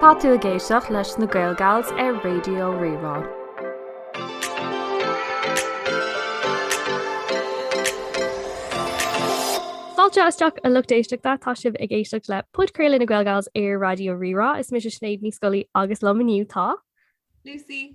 Tá tú ag éisteacht leis na GaelGals ar Raidió Rí-Rá. Fáilte isteach a lucht éisteachta, tá sibh ag éisteacht le Podchraoladh na GaelGals ar Raidió Rí-Rá, is mise Sinéad Ní Scolaí agus liom inniu tá. Lucy.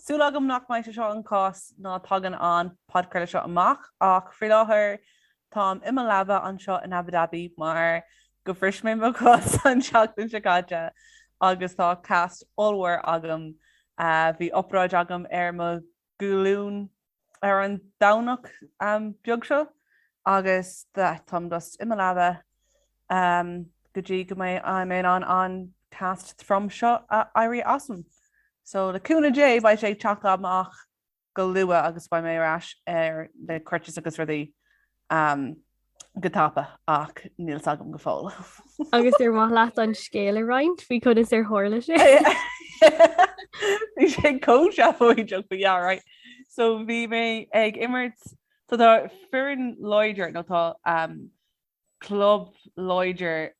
Súil agam nach mbeidh seo an cás nuair a thagann an podcraoladh seo amach ach faoi láthair táim i mo leaba anseo in Abu Dhabi mar gur bhris mé mo chos an tseachtain seo caite agus tá cast ollmhór agam. Bhí obráid agam ar mo ghlúin ar an Domhnach beag seo agus táim just i mo leaba go dtí go mbeidh an an cast trom seo ag éirí asam. So le cúnamh Dé beidh sé ag teacht amach go luath agus beidh mé ar ais ar na crutches agus rudaí Go tapa ach níl a fhios agam go fóill. Agus ar maith leat an scéal a roinnt faoi conas ar tharla sé? Bhí sé chomh seafóideach right. So bhí mé ag imirt so tá foireann ladies nó tá club ladies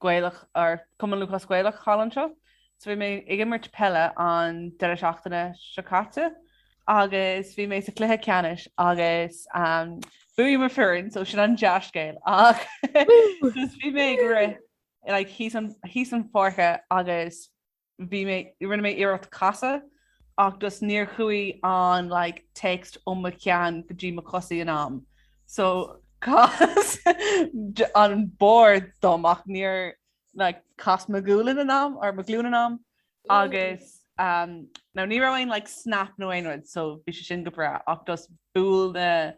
Gaelic or Cumann Lúthchleas Gaelach thall anseo. So bhí mé ag imirt peile an deireadh seachtaine seo caite agus bhí mé sa chluiche ceannais agus bhuaigh mo foireann so sin an dea-scéal ach bhí mé ag rith like síos an pháirc agus bhí mé, rinne mé iarracht casadh ach just níor chuaigh an like text ó mo cheann go dtí mo chosaí in am so chas an barr díom ach níor like chas mo ghualainn in am or mo ghlúin in am agus um, now ní raibh aon like snap nó aon rud so bhí sé sin go breá ach just bhuel like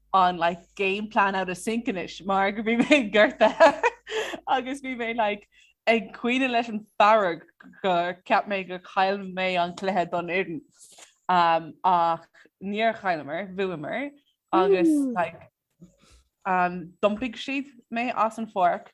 an like game plan out of sync anois mar go bhí mé gortaithe agus bhí mé like ag caoineadh leis an fearg gur cheap mé gur chaill mé an cluiche don fhoireann um, ach níor chailleamar, bhuamar agus like um, d'iompair siad mé as an pháirc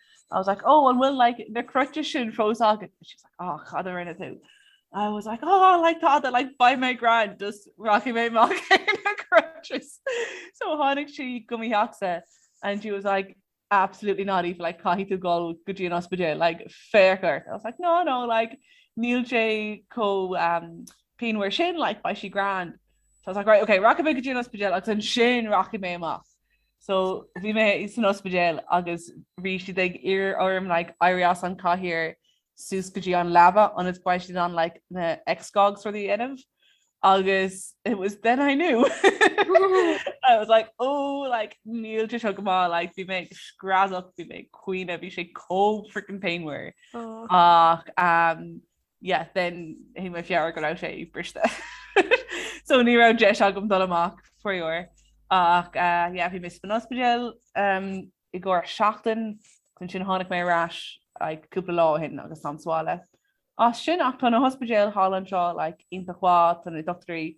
I was like, oh, an bhfuil like, na crutches sin fós agat? She was like, oh, cad a rinne tú? I was like, oh, like, tada, like, beidh mé grand, just rachaidh mé amach ar na crutches. So tháinig sí go mo theachsa and she was like, absolutely not Aoife like caithfidh tú gabháil go dtí an ospidéal like fear gorta I was like no no like níl sé chomh um, pianmhar sin like beidh sé grand so I was like right okay rachaidh mé go dtí an ospidéal agus ansin rachaidh mé amach So bhí mé san ospidéal agus bhí siad ag iarraidh orm like éirí as an cathaoir suas go dtí an leaba ionas beidh siad in ann like na X-gha agus rudaí a dhéanamh agus it was then I knew I was like ó oh, like níl sé seo go maith like bhí mé ag screadach bhí mé ag caoineadh bhí sé chomh frickin' pianmhar oh. ach um, yeah, then thug mé faoi deara go raibh sé briste. so ní raibh deis agam dul amach faraor ach uh, yeah, bhí mise san ospidéal um, i gcomhair seachtain ansin tháinig mé ar ais like, cúpla lá ó shin agus táim sa bhaile. As sin ach tá na hospidéil thall anseo like, iontach, tá na dochtúirí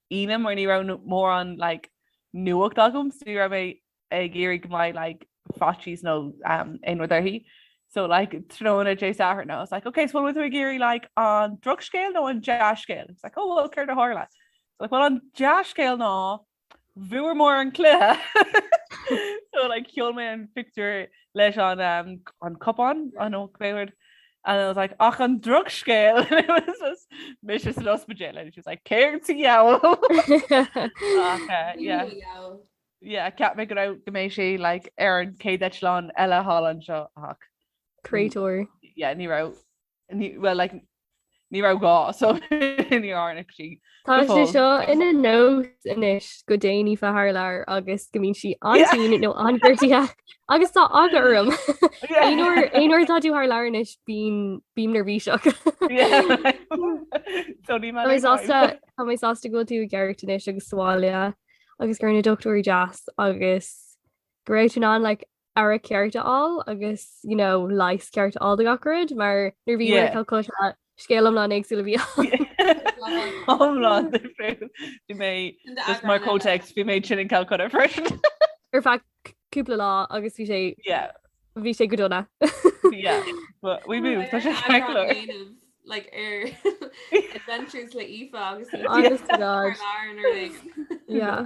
Aoine mar ní raibh mórán like nuacht agam so ní raibh mé ag iarraidh go mbeidh like faitíos nó um, aon rud uirthi. So like tráthnóna Dé Sathairn I was like okay so bhfuil tú ag iarraidh like an drochscéal nó an dea-scéal? She was like oh well céard a tharla? So like bhuel an dea-scéal ná bhuamar an cluiche so like sheol mé an pictiúr leis an um, an cupán an ó cuéir And I was like, ach an drochscéal! And it was just, mise san ospidéal. And she was like, céard sa diabhal? Ach, uh, yeah. Yeah, cheap mé go raibh go mbeadh sí like, ar an céad eitleán eile thall anseo ach. Créatúr. Yeah, ní raibh, ní, well, like, ní raibh gá, so níor tháinig sí. Go fóill. Tá sé seo ina nós anois go dtéann Aoife thar lear agus go mbíonn sí an-tinn nó an-ghortaithe agus tá eagla orm. Aon uair, aon uair atá tú thar lear anois bím bím neirbhíseach. Ach Tá mé sásta Tá mé sásta go bhfuil tú i gceart anois agus sa bhaile agus go raibh na dochtúirí deas agus go raibh tú in ann like aire ceart a fháil agus you know, leigheas ceart a fháil do gach rud mar nuair bhí yeah. Calcutta scéal iomlán éagsúil a bhí ann. Iomlán. Bhí mé mar comhthéacs bhí mé tinn in Calcutta freisin. Ar feadh cúpla lá agus bhí sé bhí sé go dona bhí mú tá sé heir. like ar adventures le Aoife agus yeah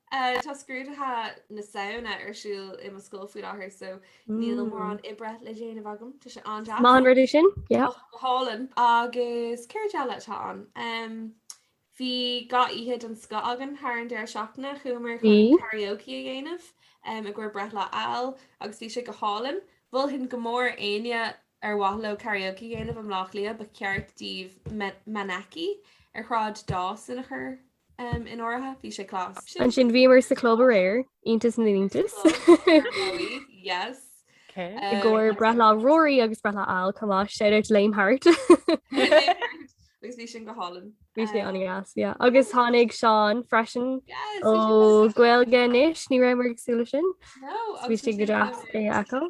Eh tá scrúdaithe na Samhna ar siúl i mo scoil faoi láthair so níl mórán oibre le déanamh agam tá sé an-deas. Maith an rud é sin, yeah. Och go hálainn agus céard eile atá ann? Em bhí dhá oíche den scoth againn thar an deireadh seachtaine, chuamar chun karaoke a dhéanamh em i gcomhair breithlá Fheall agus bhí sé go hálainn. Mholfainn go mór éinne ar mhaith leo karaoke a dhéanamh i mBleá Cliath ba cheart díbh me- Maneki ar Shráid Dawson a chur In áirithe, bhí sé cleas. Ansin bhíomar sa chlub aréir, iontas na n-iontas. I gcomhair breithlá Rory agus breithlá Al, chomh maith, shout out to Liam Hart. Agus bhí sin go hálainn. Bhí sé an-dheas, yeah. Agus tháinig Seán freisin ó Gaeilge Anois, ní rabhamar ag súil leis sin. Bhí sé go deas é a fheiceáil.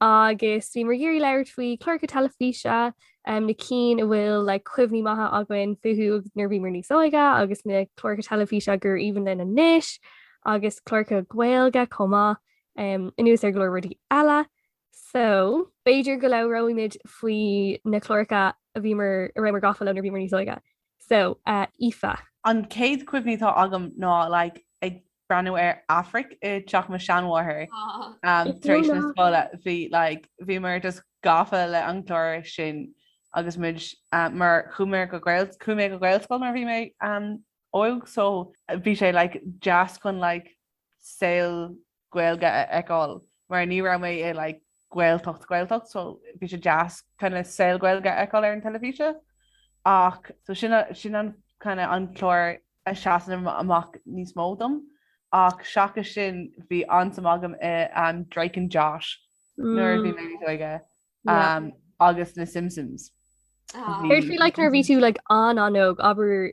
Agus bhíomar ag iarraidh labhairt faoi cláracha teilifíse um, na cinn a bhfuil like, cuimhní maithe againn fúthu nuair a bhíomar níos óige agus na cláracha teilifíse gur aoibhinn linn anois agus cláracha Gaeilge chomh maith um, anuas ar go leor rudaí eile. So, b'fhéidir go labhróimid faoi na cláracha a bhíomar a rabhamar gafa leo nuair a bhíomar níos óige. So, uh, Aoife. An chéad cuimhne atá agam ná like, ag breathnú ar Aifric i dteach mo sheanmháthar tar éis na scoile. Bhí like bhíomar just gafa le an clár sin agus muid mar chuaigh mé go Gaelscoil nuair a bhí mé óg so bhí sé like deas chun like saol Gaeilge a fheiceáil mar ní raibh mé i like Gaeltacht, Gaeltacht, so bhí sé deas kind of saol Gaeilge a fheiceáil ar an teilifís ach so sin a, sin an kind of an clár a seasann amach níos mó dom ach seachas sin bhí an-suim agam i ehm Drake and Josh nuair a bhí mé níos óige ehm agus na Simpsons. Did you like nuair a bhí tú like an-an-óg abair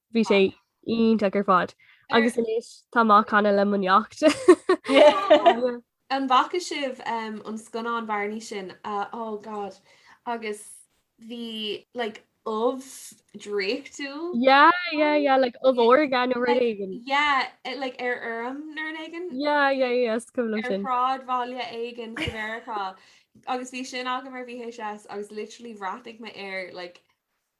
Bhí sé iontach ar fad. Agus anois tá mé á canadh le mo neacht. An bhfaca sibh an scannán Barney sin? Oh God agus bhí like ubh draíochtúil. Yeah yeah yeah like ubh órga nó rud éigin. Yeah like ar fheirm nó rud éigin. Yeah yeah yeah is cuimhin liom sin. Ar shráidbhaile éigin i Meiriceá agus bhí sin agam ar VHS agus literally bhreathnaigh mé air like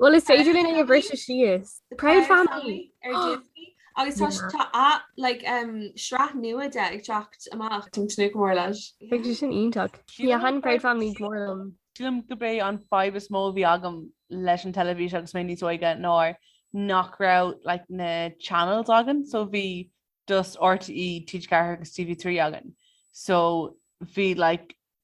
Bhuel is féidir linn é a bhriseadh síos. The Proud Family ar Disney agus tá s- tá a like um sraith nua de ag teacht amach táim ag tnúth go mór leis. Beidh sé sin iontach. Yeah thaitin Proud Family go mór liom. Sílim gurb é an fadhb is mó a bhí agam leis an teilifís agus mé níos óige ná nach raibh like na channels againn so bhí just RTÉ, TG4 agus TV3 againn so bhí like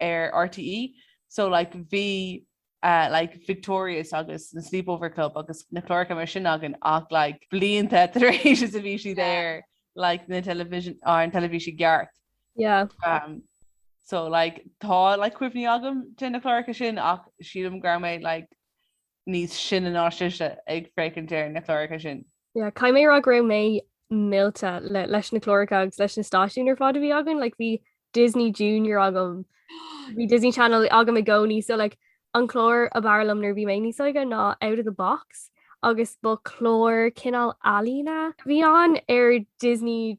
ar RTÉ so like bhí eh like Victorious agus na Sleepover Club agus na cláracha mar sin againn ach like blianta tar éis is a bhí siad ar like na television ar an teilifís i gceart. Yeah. Um, so like tá like cuimhní agam de na cláracha sin ach sílim go raibh mé like níos sine ná sise ag féachaint ar na cláracha sin. Yeah, caithfidh mé a rá go raibh mé millte leis na cláracha agus leis na stáisiúin ar fad a bhí againn, like, bhí Disney Junior agam bhí Disney Channel agam i gcónaí so like, an clár ab fhearr liom nuair a bhí mé níos óige ná Out of the Box agus ba clár cineál ealaíne a bhí ann ar Disney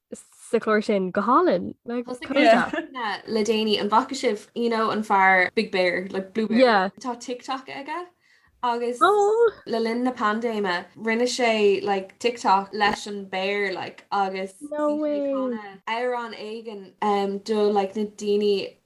sa chlár sin go hálainn le déanaí an bhfaca sibh you know an fear Big Bear le like, Blue yeah. Tá tiktok aige agus oh. le linn na paindéime rinne sé like, tiktok leis an béar like, agus amhrán éigin um, do like, na daoine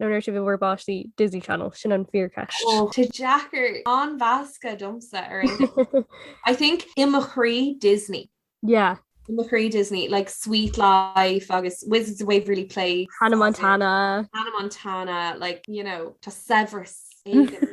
nó nuair a bhí sibh i bhur bpáistí, Disney Channel, sin an fíorcheist. Oh, tá deacair an mheascadh domsa ar aon I think i mo chroí Disney. Yeah. I mo chroí Disney, like Suite Life agus Wizards of Waverly Place. Hannah Montana. Hannah Montana, like, you know, tá saibhreas éigin.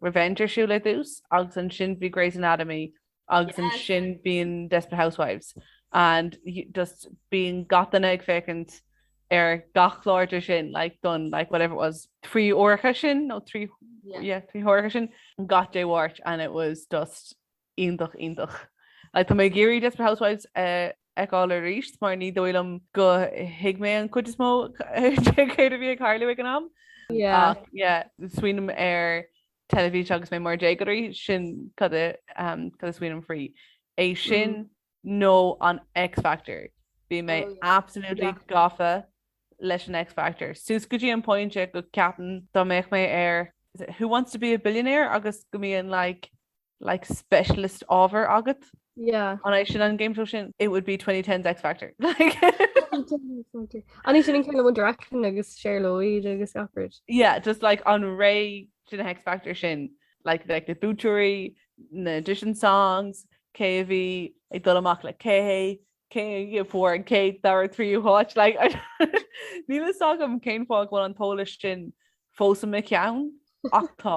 Revenge ar siúl ar dtús agus ansin bhí Grey's Anatomy agus ansin bíonn Desperate Housewives and just bíonn gach duine ag féachaint ar gach clár díobh sin like don like whatever it was trí huaire sin nó trí yeah trí huaire sin gach Dé Máirt and it was just Iontach, iontach. Tá mé ag iarraidh Desperate Housewives a fheiceáil arís mar ní dóigh liom gur thuig mé an chuid is mó de céard a bhí ag tarlú ag an am. Ach yeah, nuair a smaoiním ar teilifís agus mé mar déagóir, sin cad a smaoiním faoi. É sin nó an X Factor. Bhí mé absolutely gafa leis an X Factor. Suas go dtí an pointe go ceapaim dá mbeadh mé ar Who Wants to be a Billionaire agus go mbíonn like like specialist ábhar agat yeah an é sin an game show sin it would be 2010s X Factor like an ré sin kind of One Direction agus Cher Lloyd agus Alfred yeah just like an ré sin den X Factor sin like like na buaiteoirí na audition songs cé a bhí ag dul amach le cé cé a fuair an chéad dara tríú háit like níl a fhios agam cén fáth go bhfuil an t-eolas sin fós i mo cheann ach tá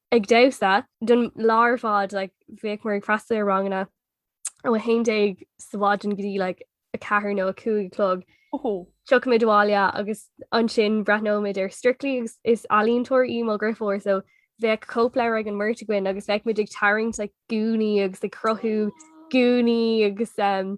ag damhsa don lá ar fad like, bhíodh muir ag freastal ar ranganna ó 11 ar maidin go dtí like, a ceathair nó a cúig a chlog. Oh. Tiocfaimid abhaile agus ansin breathnóimid ar Strictly agus is ealaíontóir í mo dheirfiúr so bheadh cóipleabhar ag an mbeirt againn agus bheadh muid ag tarraingt like, gúnaí agus ag cruthú gúnaí agus um,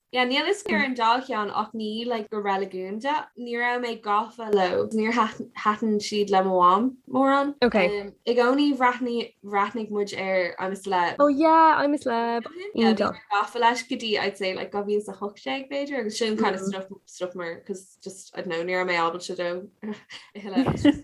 Yeah níl a fhios agam ar an dá cheann ach ní like go reiligiúnda. Ní raibh mé gafa leo. Níor thaitin siad le mo mham mórán. Ok. I gcónaí bhreathnaigh muid ar I'm a Celeb. Oh yeah I'm a Celeb. Yeah. Bhí mé gafa leis go dtí I'd say like 2018 b'fhéidir agus sin kind of stop mar 'cause just I don't know ní raibh mé able dó a thuilleadh.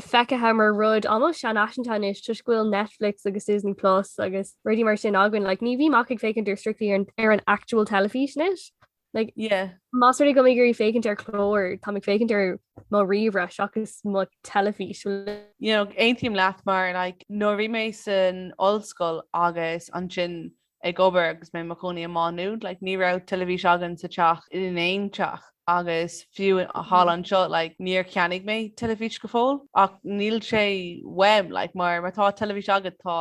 feicthe mar rud almost seanfhaiseanta anois toisc go bhfuil Netflix agus Disney Plus agus rudaí mar sin againn. Like ní bhím ag ag féachaint ar Strictly ar an ar an actual teilifís anois. Like Yeah. más rud é go bhfuil mé ag iarraidh féachaint ar chlár táim ag féachaint ar mo ríomhaire seachas mo teilifís. You know, aontaím leat mar like nuair a bhí mé san ollscoil agus ansin ag obair agus mé i mo chónaí i Má Nuad like ní raibh teilifís againn sa teach in aon teach agus fiú thall anseo like níor cheannaigh mé teilifís go fóill ach níl sé uaim like mar má tá teilifís agat tá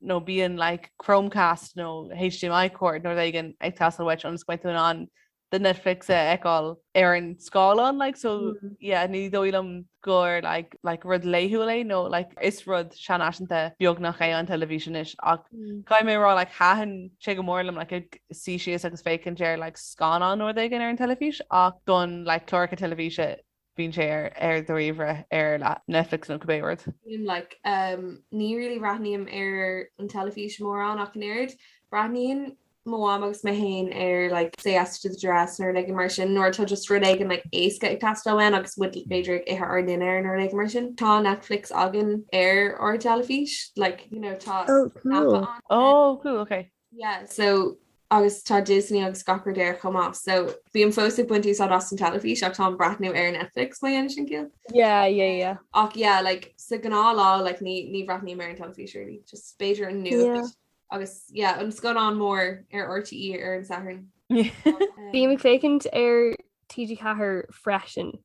nó bíonn like Chromecast nó HDMI cord nó rud éigin ag teastáil uait ionas go mbeidh tú in ann the Netflix a fheiceáil ar an scáileán like so yeah ní dóigh liom gur like like rud laethúil é nó like is rud seanfhaiseanta beagnach é an teilifís anois ach caithfidh mé a rá like thaitin sé go mór liom like ag suí síos agus féachaint ar like scannáin nó rud éigin ar an teilifís ach don like cláracha teilifíse bíonn sé ar ar do ríomhaire ar Netflix nó cibé rud. Bím like em ní really bhreathnaím ar an teilifís mórán ach an oiread. Breathnaíonn mo mham agus mé féin ar like Say Yes to the Dress nó rud éigin mar sin nuair atá just rud éigin like éasca ag teastáil uainn agus muid b'fhéidir ag ithe ár ndinnéar nó rud éigin mar sin. Tá Netflix againn ar ár dteilifís like you know tá Ó, aip cool. ann. Ó, cool, okay. Yeah so agus tá Disney agus gach rud air chomh maith so bím fós ag baint úsáid as an teilifís ach táim ag breathnú ar Netflix má dhéanann sin ciall? Yeah yeah yeah. Ach yeah like sa gnáthlá like ní ní bhreathnaím ar an teilifís really just b'fhéidir an nuacht yeah agus yeah an scannán mór ar RTÉ ar an Satharn. Bím ag féachaint ar TG4 freisin.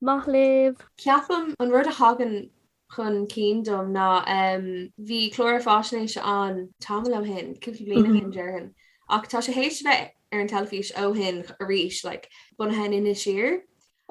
Maith libh! Ceapaim, an rud a thagann chun cinn dom ná em bhí clár fáisnéise ann tamall ó shin, cúpla bliain ó shin déarfainn, ach tá sé théis a bheith ar an teilifís ó shin arís like bunaithe in Inis Oírr.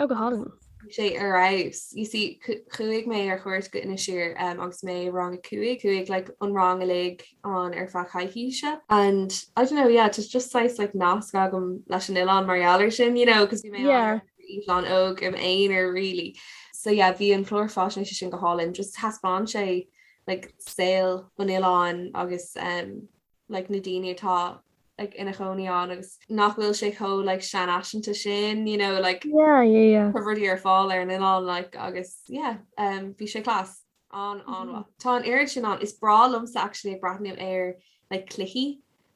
Ó go hálainn. Bhí sé ar fheabhas. You see chuaigh mé ar chuairt go Inis Oírr em agus mé i rang a cúig, chuaigh like an rang uilig ann ar feadh coicíse and I don't know yeah it's just saghas like nasc agam leis an oileán mar gheall air sin you know cause bhí mé ann yeah. Is mé an-óg im aonar really. So yeah bhí an clár faisnéise sin go hálainn, just thaispeáin sé like saol an oileáin agus um like na daoine atá like ina chónaí ann agus nach bhfuil sé chomh like seanfhaiseanta sin you know like yeah yeah yeah go bhfuil rudaí ar fáil ar an oileán like agus yeah um bhí sé class an- an-mhaith. Mm-hmm. Tá an oiread sin an is brá liomsa actually ag breathnú ar like cluichí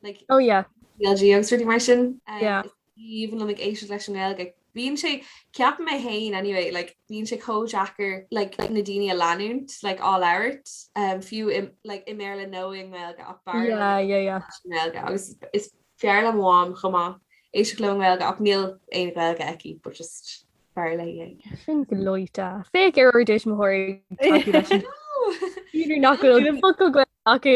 like oh yeah CLG agus rudaí mar sin. Um, yeah. Even an ag éisteacht leis an nGaeilge bíonn sé, ceap mé fhéin anyway, like bíonn sé chomh deacair like na daoine a leanúint like á labhairt fiú i like i mBéarla nó i nGaeilge ach b'fhearr liom Yeah, yeah, yeah. leis an nGaeilge agus is fearr le mo mham chomh maith éisteacht leo i nGaeilge ach níl aon Ghaeilge aici but just b'fhearr léi é. Sin gleoite. Féach ar ár dtuismitheoirí tógtha leis an I know! scéal nach bhfuil focal Gaeilge acu.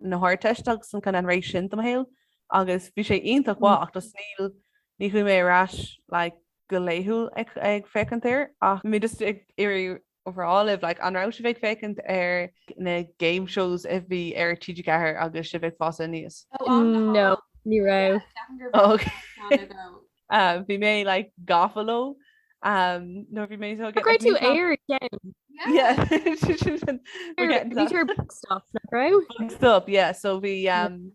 na hArdteiste agus an kinda an ré sin de mo shaol agus bhí sé iontach mhaith ach just níl ní chuaigh mé ar ais like go laethúil ag ag féachaint air ach bhí mé just ag iarraidh a rá libh like an raibh sibh ag féachaint ar na game shows a bhí ar TG4 agus sibh ag fás aníos? No ní raibh. Oh ok. Uh, bhí mé like gafa leo um, no bhí mé so go raibh tú air stop yeah so bhí um,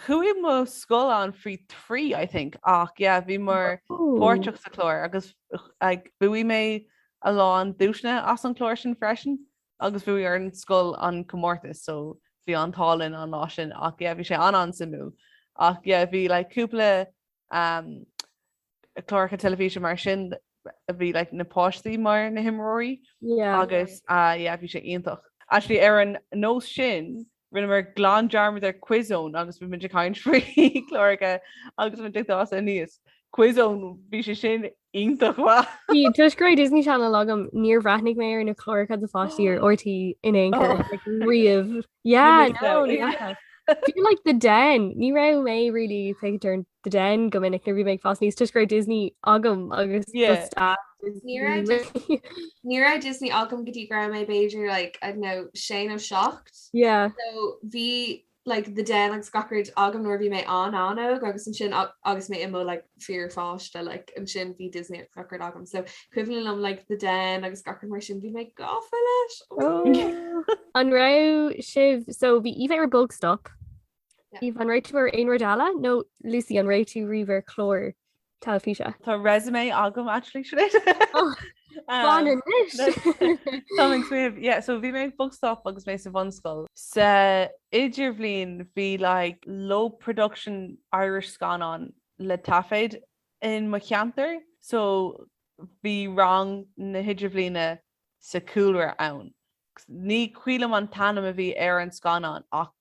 chuaigh mo scoil ann faoi thrí I think ach yeah, bhíomar páirteach sa chlár agus bhuaigh mé a lán duaiseanna as an chlár sin freisin agus bhuaigh ár an scoil an comórtas so bhí an t-ádh linn an lá sin ach yeah bhí sé an-an-suimiúil ach yeah bhí like cúpla um cláracha teilifíse mar sin a bhí like na páistí mar na himreoirí yeah agus uh yeah bhí sé iontach. Actually ar an nós sin Rinneamar glan dearmad ar Quiz Zone agus bhí muid ag caint faoi cláracha agus muid ag fás aníos. Quiz Zone, bhí sé sin iontach mhaith! Bhí toisc go raibh Disney Channel agam, níor bhreathnaigh mé ar na cláracha do pháistí ar RTÉ in aon chor, like, riamh. Yeah, Ní raibh no, ní mé. raibh. Bhí, like, The Den, ní raibh mé really féachaint ar an The Den go minic nuair a bhí mé ag fás aníos, toisc go raibh Disney agam agus do Yeah. stáir Ní raibh Disney. Ní raibh Disney agam go dtí go raibh mé b'fhéidir, like, I don't know, sé nó seacht. ocht. Yeah. So bhí like the den agus gach rud agam nuair a bhí mé an-an-óg agus ansin agus mé i mo like fíorpháiste like ansin bhí Disney agus gach rud agam so cuimhin liom like the den agus gach rud mar sin bhí mé gafa leis. Oh. An raibh sibh so bhí Eve ar Bog Stop. Yeah. Eve an raibh tú ar aon rud eile nó Lucy an raibh tú riamh ar chlár teilifíse. Tá resume agam actually Sinéad. Oh, um, Fan, inis. Tá ag suíomh, yeah, so bhí mé ar Bog Stop agus mé sa bhunscoil. Sa idirbhliain bhí like low production Irish scannán le taifead in mo cheantar so bhí rang na hidirbhliana sa chúlra ann. Ní cuimhin liom an t-ainm a bhí ar an scannán ach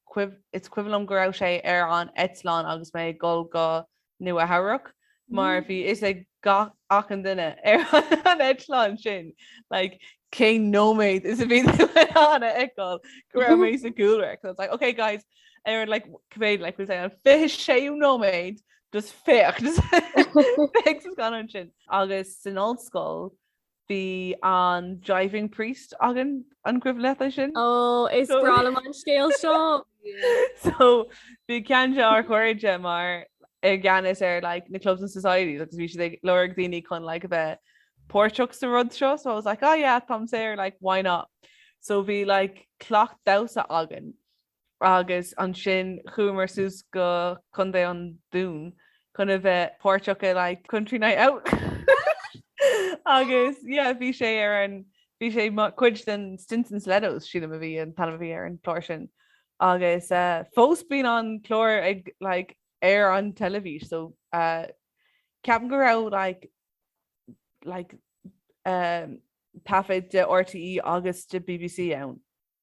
is cuimhin liom go raibh sé ar an eitleán agus mé ag dhul go Nua-Eabhrac mar bhí fhios ag achan duine ar an eitleán sin like cén nóiméad is a bhí tú in ann a fheiceáil go raibh mé sa chúlra so I was like okay guys ar an like cibé like we'll say an 26ú nóiméad just féach just féach sa scannán sin agus san ollscoil Bhí an Driving Priest againn an cuimhin leat é sin? Ó is So- breá liom an scéal seo. So bhí ceann dár gcairde mar i gceannas ar like na clubs and societies agus bhí siad ag lorg daoine chun like a bheith páirteach sa rud seo so I was like ah yeah táim saor like why not. So bhí like cleachtadh damhsa againn agus ansin chuamar suas go Co. an Dúin chun a bheith páirteach i like country night out agus yeah bhí sé ar an bhí sé cuid den Stetsons and Stilettos sílim a bhí an t-ainm a bhí ar an chlár sin agus eh fós bíonn an clár ag like ar an teilifís so eh ceapaim go raibh like like eh taifead de RTÉ agus de BBC ann.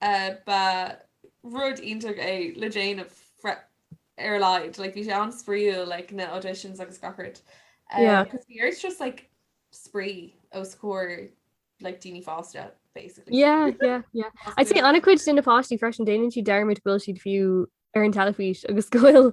Ba rud iontach é le déanamh ar a laghad. Like bhí sé an-spraíúil like na auditions agus gach rud. Yeah. Cos bhí sé just like spraoi os comhair like daoine fásta basically. Yeah, yeah, yeah. I'd say ana-chuid de na páistí freisin déanann siad dearmad go bhfuil siad fiú ar an teilifís agus go bhfuil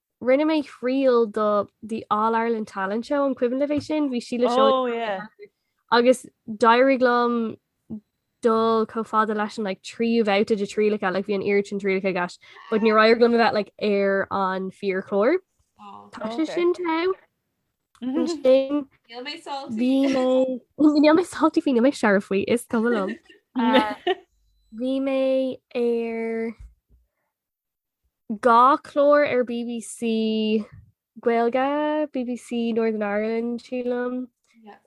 Rinne mé triail do the All Ireland Talent Show an cuimhin libh é sin? Bhí Síle Seoighe Oh yeah. agus d'éirigh liom dul chomh fada leis an like tríú babhta de trialacha, like bhí an oiread sin trialacha i gceist, but níor éirigh liom a bheith like ar an fíorchlár. Oh, Tá sé okay. sin tough. Mhm. sin Níl mé salty. é Níl mé salty faoi, níl mé searbh faoi, is cuma liom. Ah, Bhí mé ar dhá chlár ar BBC Gaeilge, BBC Northern Ireland sílim,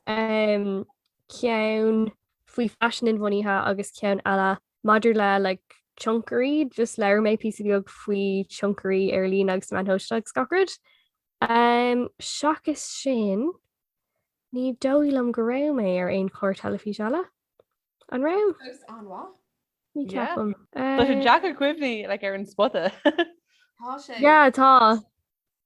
ceann faoi faisean inbhuanaithe agus ceann eile maidir le like tionchairí, just labhair mé píosa beag faoi tionchairí ar líne agus na meáin shóisialta agus gach rud. Seachas sin, ní dóigh liom go raibh mé ar aon chlár teilifís eile. An raibh? Fós an-mhaith. Ní cheapaim. Tá sé deacair eh. cuimhneamh like ar an spota. Tá sé. Yeah tá.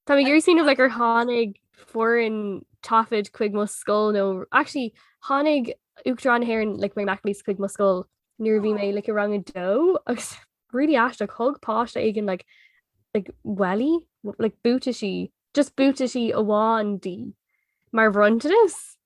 Tá mé ag iarraidh smaoineamh like ar tháinig foireann taifid chuig mo scoil nó actually tháinig Uachtarán na hÉireann like Mary McAleese chuig mo scoil nuair a bhí mé like i rang a dó agus really aisteach thug páiste éigin like like welly like buataisí just buataisí amháin di mar bhronntanas.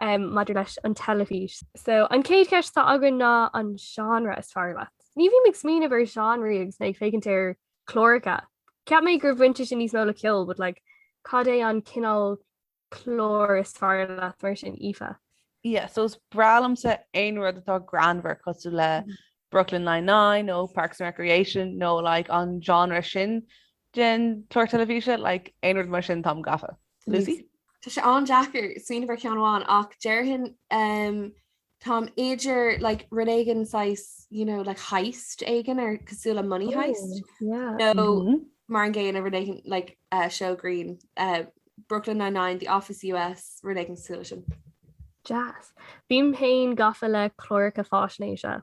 um, maidir leis an teilifís. So, an céad cheist atá againn ná an seánra is fearr leat. Ní bhím ag smaoineamh ar seánraí agus mé ag féachaint ar cláracha. Ceap mé gur bhain sé sin níos mó le ceol, but like, cad é an cineál clár is fearr leat mar sin Aoife? Yeah, so is breá liomsa aon rud atá greannmhar cosúil le mm-hmm. Brooklyn Nine-Nine nó Parks and Recreation nó like, an genre sin. den chlár teilifíse like aon rud mar sin táim gafa. Lucy? Tá sé an-deacair smaoineamh ar ceann amháin ach déarfainn um táim idir like rud éigin saghas you know like heist éigin ar cosúil le money heist oh, yeah. nó no, mm -hmm. mar an gcéanna rud éigin like uh, seó grinn uh, Brooklyn Nine-Nine, The Office US rud éigin cosúil le sin. Jazz. Bím féin gafa le cláracha faisnéise.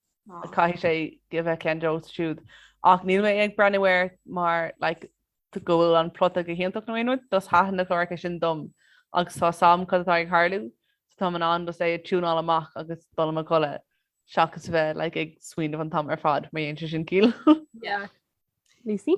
caithfidh sé a bheith ceann dóibh siúd ach níl mé ag breathnú air mar like, go bhfuil an plota go hiontach nó aon rud, just taitníonn na cláracha sin liom agus tá a fhios agam cad atá ag tharlú so táim in ann just é a tiúnáil amach agus dul i mo chodladh seachas a bheith like, ag smaoineamh an t-am ar fad má dhéanann sé sin ciall. Lucy?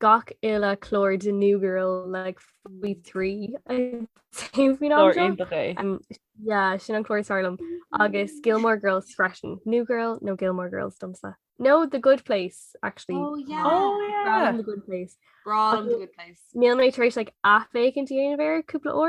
gach uile chlár de New Girl le faoi trí sin an clár is fearr liom agus Gilmore Girls freisin New Girl nó Gilmore Girls domsa. Nó The Good Place actually oh, yeah. oh, yeah. the good place Níl mé tar éis like athfhéachaint a dhéanamh ar cúpla ó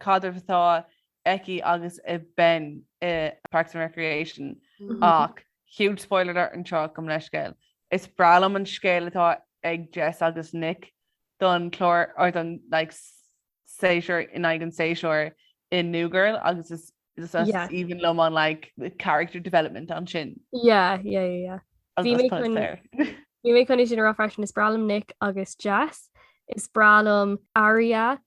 caidreamh atá aici agus ag Ben i Parks and Recreation ach huge spoiler alert anseo gabh mo leithscéal. Is breá liom an scéal atá ag Jess agus Nick don chlár or don like séasúr in aghaidh an séasúr i New Girl agus is is aoibhinn liom an like character development ansin. Yeah, yeah, yeah, yeah. Bhí mé chun bhí mé chun sin a rá freisin is breá liom Nick agus Jess. Is breá liom Aria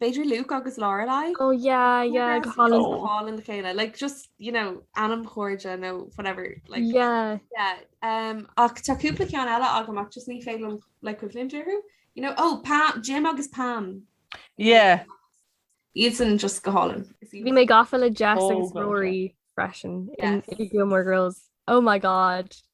B'fhéidir Luke agus Lorelai? Oh yeah yeah go hálainn. Oh. Fáil a chéile like just you know anamchairde nó whatever like Yeah. yeah um ach tá cúpla ceann eile agam ach just ní féidir liom like cuimhneamh orthu you know oh Pam Jim agus Pam Yeah. iad san just go hálainn Is í- Bhí mé gafa le Jess Oh, agus God, Rory freisin Yeah. in i Gilmore Girls. Oh my god.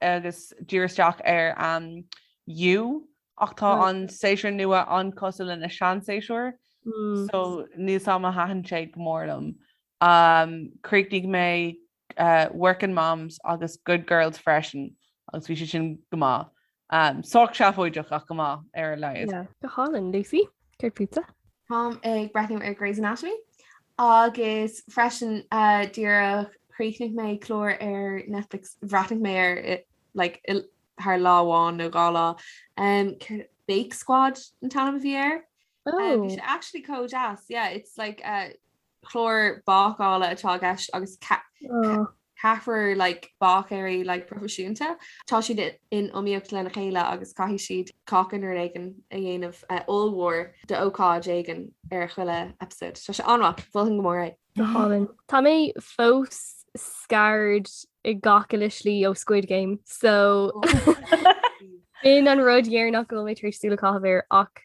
agus díriú isteach ar You ach tá an séasúr nua an-cosúil leis na seanséasúir so níl a fhios agam ar thaitin sé go mór liom. Chríochnaigh mé Workin' Moms agus Good Girls freisin agus bhí siad sin go maith. Sách seafóideach ach go maith ar a laghad. Go hálainn, Lucy. Céard fútsa? Táim ag breathnú ar Grey's Anatomy agus freisin uh, díreach chríochnaigh mé clár ar Netflix bhreathnaigh mé ar i- like, i- thar lá amháin nó dhá lá um, céard- Bake Squad an t-ainm a bhí air. Uh, bhí Oh, sé actually chomh deas yeah it's like uh, clár bácála atá i gceist agus ceathrar like, báicéirí like, proifisiúnta. Tá siad in iomaíocht lena chéile agus caithfidh siad cáca nó rud éigin a dhéanamh uh, ollmhór d'ócáid éigin ar a chuile episode. Tá sé an-mhaith, mholfainn go mór é. Go hálainn. Tá mé fós scarred i ngach uile slí ó Squid Game, so in an rud deireanach go bhfuil mé tar éis súil a chaitheamh air ach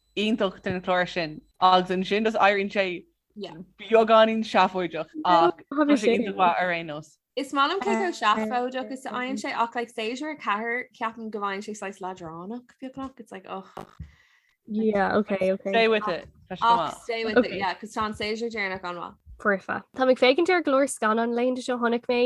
iontach den chlár sin agus ansin does éiríonn sé beagáinín seafóideach ach tá sé iontach mhaith ar aon nós. Is maith liom cé chomh seafóideach is a fhaigheann sé ach like séasúr a ceathair ceapaim go bhfaigheann sé saghas leadránach beagnach it's like oh yeah ok ok stay with it tá sé go maith ach stay with it yeah cos tá an séasúr deireanach an-mhaith. Foirfe. Táim ag féachaint ar go leor scannáin laethanta seo chonaic mé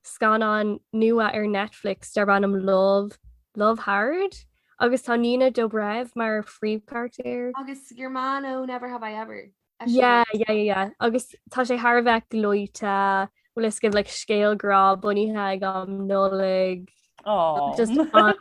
scannán nua ar Netflix darb ainm Love, Love Hard agus tá Nina Dobrev mar phríomhcharactéir. Agus your man ó Never Have I Ever é sin. Yeah, yeah, yeah, yeah. Agus tá sé thar a bheith gleoite, bhfuil a fhios agaibh like scéal grá bunaithe ag am Nollaig. Aww. Just fantastic.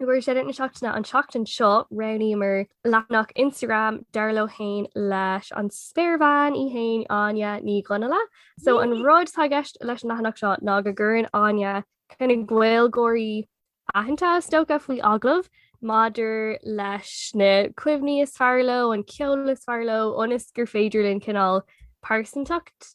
I gcomhair Shoutout na Seachtaine an tseachtain seo roghnaíomar leathanach Instagram Dar Leo Féin leis an spéirbhean í féin Áine Ní Dhonnaile. So an rud tá gceist leis an leathanach seo ná go gcuireann Áine cineál Gaeilgeoirí aitheanta is dócha faoi agallamh maidir leis na cuimhní is fearr leo, an ceol is fearr leo ionas gur féidir linn cineál pearsantacht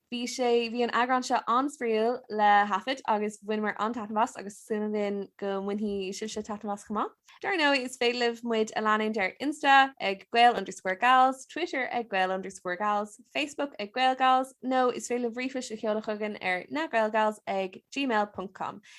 Bhí sé, bhí an eagrán seo an-spraíúil le thaifead agus bhaineamar an-taitneamh as agus súil againn go mbainfidh sibhse taitneamh as chomh maith. Dar ndóigh is féidir libh muid a leanúint ar Insta ag gael underscore gals, Twitter ag gael underscore gals, Facebook ag gaelgals nó is féidir libh ríomhphost a sheoladh chugainn ar na gaelgals ag gmail ponc com.